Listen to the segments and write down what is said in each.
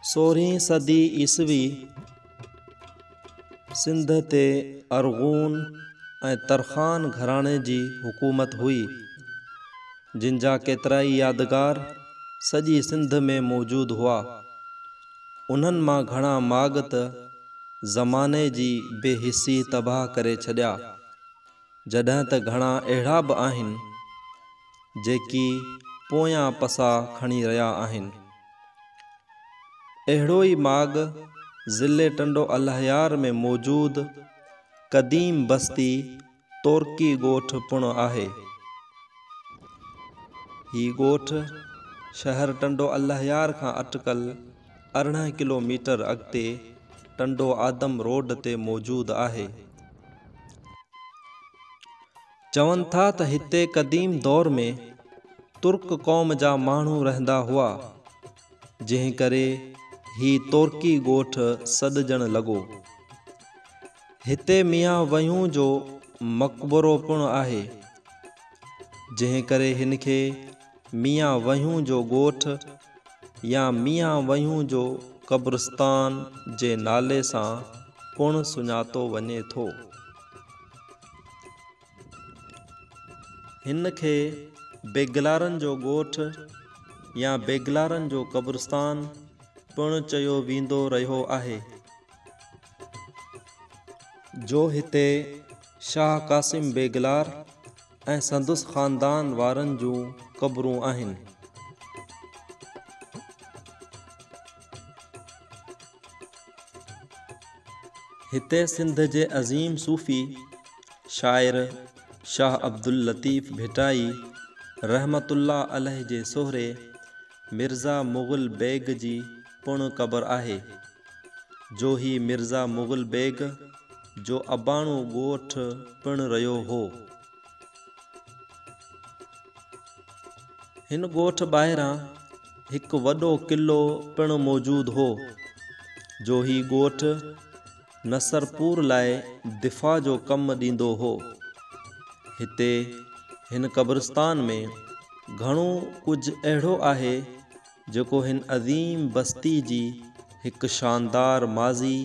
سورهين صدي عيسوي سنڌ تي ارغون ۽ ترخان گهراڻي جي حڪومت هئي جن جا ڪيترائي يادگار سڄي سنڌ ۾ موجود هئا انهن مان گهڻا ماڳ ته زماني جي بي حسي تباهه ڪري ڇڏيا جڏهن ته گهڻا اهڙا به آهن جيڪي پويان پسا کڻي رهيا آهن. اهڙو ئي ماڳ ضلعي ٽنڊو الهيار ۾ موجود قديم بستي تورڪي ڳوٺ پڻ آهي. هي ڳوٺ شهر ٽنڊو الهيار کان اٽڪل ارڙهن ڪلو ميٽر اڳتي ٽنڊو آدم روڊ تي موجود آهي. چون ٿا ته هتي قديم دور ۾ ترڪ قوم جا ماڻهو رهندا هئا، جنهن ڪري هي تورڪي ڳوٺ سڏجڻ لڳو. هتي ميان وهيون جو مقبرو پڻ آهي، جنهن ڪري هن کي ميان وهيون جو ڳوٺ يا ميان وهيون جو قبرستان جي نالي سان پڻ سڃاتو وڃي ٿو. هن کي بيگلارن جو ڳوٺ يا بيگلارن جو قبرستان پڻ چيو ويندو رهيو آهي، جو هتي شاهه قاسم بيگلار ۽ سندس خاندان وارن جون قبرون آهن. هتي سنڌ جي عظيم صوفي شاعر شاهه عبداللطيف ڀٽائي رحمت الله عليه جي سهري مرزا مغل بيگ جي پڻ قبر آهي، جو هي مرزا مغل بيگ جو اباڻو ڳوٺ پڻ رهيو هو. هن ڳوٺ ٻاهران هڪ وڏو قلعو پڻ موجود هو، جو هي ڳوٺ نصرپور لاء دفاع جو ڪم ڏيندو هو. هتي هن قبرستان ۾ گهڻو ڪجهه اهڙو آهي، جيڪو هن عظيم بستي جي هڪ شاندار ماضي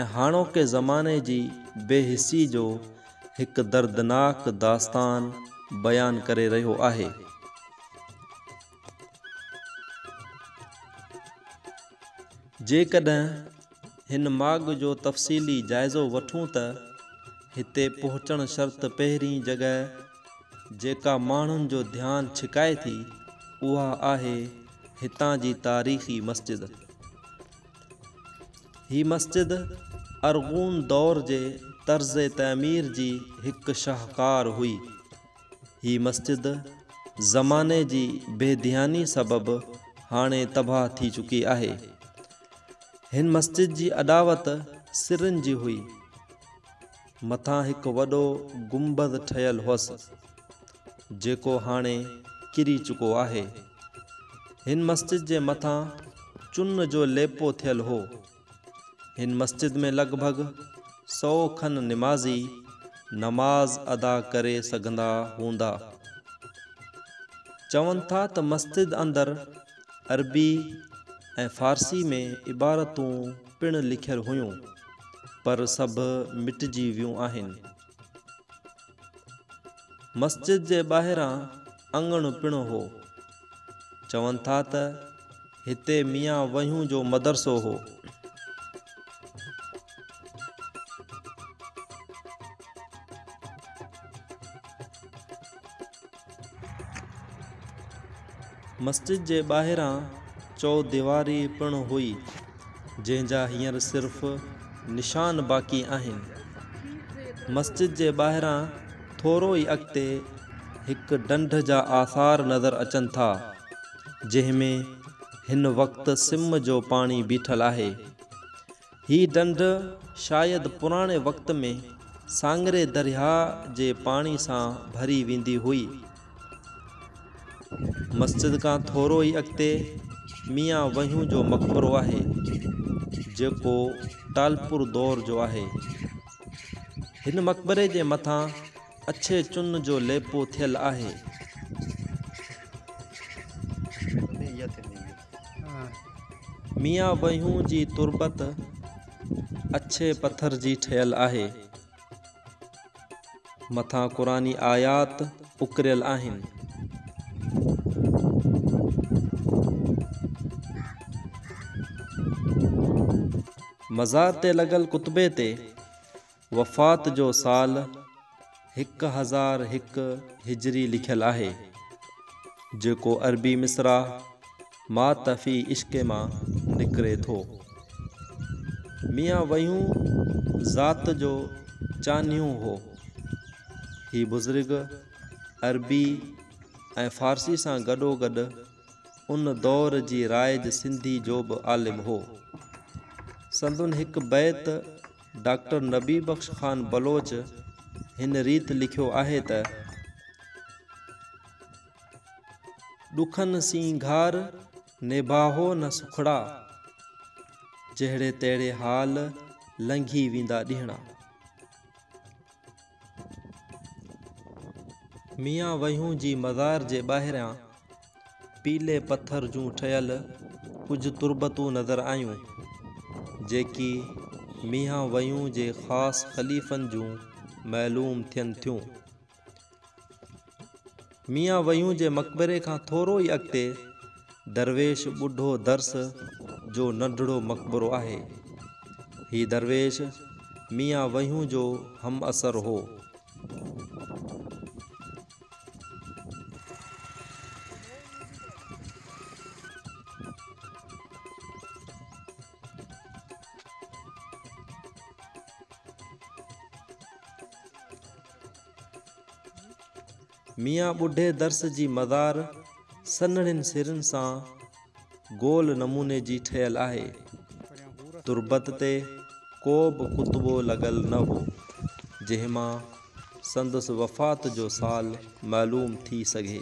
۽ هاڻوڪي زماني جي بي حسي جو هڪ دردناڪ داستان بيان ڪري رهيو آهي. جيڪڏهن هن ماڳ جو تفصيلي جائزو وٺون ته هتي پهچڻ شرط پهرين جڳهه جيڪا ماڻهن جو ڌيان ڇڪائي ٿي اها آهي هتان جي تاريخي مسجد. هي مسجد ارغون دور جي طرز تعمير جي هڪ شاهڪار هئي. هي مسجد زماني جي بي ڌياني سبب هاڻي تباهه ٿي چڪي آهي. هن مسجد جي اڏاوت سرن جي هئي. مٿان هڪ وڏو گنبذ ٺهيل هئس، جيڪو هاڻي ڪري چڪو آهي. هن مسجد جي مٿان چن جو ليپو ٿيل هو. هن مسجد ۾ لڳ ڀڳ سئو کن نمازي نماز ادا ڪري سگهندا هوندا. چون ٿا ته مسجد اندر عربي ۽ فارسي ۾ عبارتون پڻ لکيل هيون. پر سڀ مٽجي ويون آهن. مسجد جي ٻاهران اڱڻ پڻ هو. چون ٿا ته هتي ميان وهيون جو مدرسو هو. مسجد جي ٻاهران چوديواري پڻ هئي، جنهن جا هينئر صرف نشان باقي آهن. مسجد جي ٻاهران ٿورو ئي اڳتي هڪ ڍنڍ جا آثار نظر اچن ٿا، جنهن ۾ هن وقت سم جو پاڻي بيٺل آهي. هي ڍنڍ شايد پراڻي وقت ۾ ساڱري درياهه جي پاڻي سان ڀري ويندي هئي. مسجد کان ٿورو ئي اڳتي ميان وهيون جو مقبرو آهي، جيڪو ٽالپور دور جو آهي. هن مقبري جي مٿان اڇي چن جو ليپو ٿيل آهي. ميان ويهون جي تربت اڇي پٿر جي ٺهيل آهي. مٿان قرآني آيات اڪريل آهن. مزار تي لڳل ڪتبي تي وفات جو سال هڪ هزار هڪ هجري لکيل آهي، جيڪو عربي مصرع مات في عشق مان نڪري ٿو. ميان ويون ذات جو چانهيون هو. هي بزرگ عربي ۽ فارسي سان گڏوگڏ ان دور جي رائج سنڌي جو به عالم هو. سندن هڪ بيت ڊاڪٽر نبي بخش خان بلوچ هن ريت لکيو آهي ته. ڏکن سينگهار نباهو نه سکڙا، جهڙي تهڙي حال لنگهي ويندا ڏينهڙا. ميان ويهون جي مزار جي ٻاهريان پيلي پٿر جون ٺهيل ڪجهه تربتون نظر آيون، جيڪي ميان ويهون جي خاص خليفن جون معلوم ٿين ٿيون. ميان ويون جي مقبري کان ٿورو ئي اڳتي درويش ٻڍو درس جو ننڍڙو مقبرو آهي. هي درويش ميان ويون جو همعصر هو. ميان ٻڍي درس جي مزار سنهڙين سرن سان گول نموني جي ٺهيل آهي. تربت تي ڪو به ڪتبو لڳل نه هو، جنهن مان سندس وفات جو سال معلوم ٿي سگهي.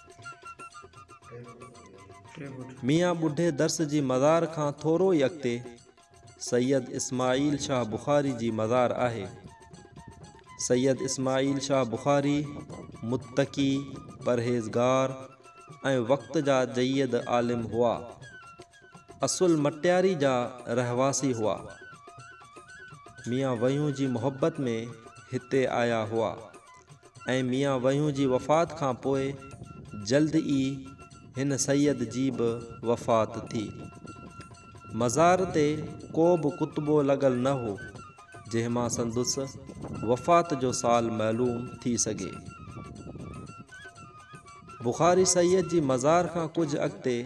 ميان ٻڍي درس جي مزار کان ٿورو ئي اڳتي سيد اسماعيل شاهه بخاري جي مزار آهي. سيد اسماعيل شاهه بخاري متقي، پرهيزگار ۽ وقت جا جيد عالم هئا. اصل مٽياري جا رهواسي هئا. ميان ويون جي محبت ۾ هتي آيا هئا. ۽ ميان وهيون جي وفات کان پوء جلد ئي هن سيد جي به وفات ٿي. مزار تي ڪو به ڪتبو لڳل نه هو، جنهن مان سندس وفات جو سال معلوم ٿي سگهي. بخاري سيد جي مزار کان ڪجهه اڳتي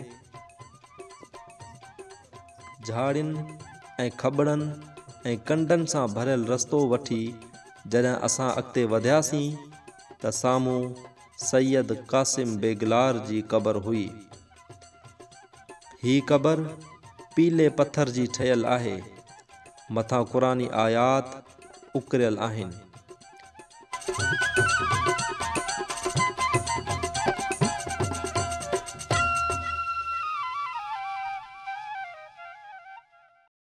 جهاڙين ۽ کٻڙن ۽ ڪنڊن سان ڀريل رستو وٺي جڏهن اسان اڳتي وڌياسين ته سامهون سيد قاسم بيگلار جي قبر هئي. هي قبر پيلي پٿر جي ٺهيل آهي. مٿان قرآني آيات اڪريل آهن.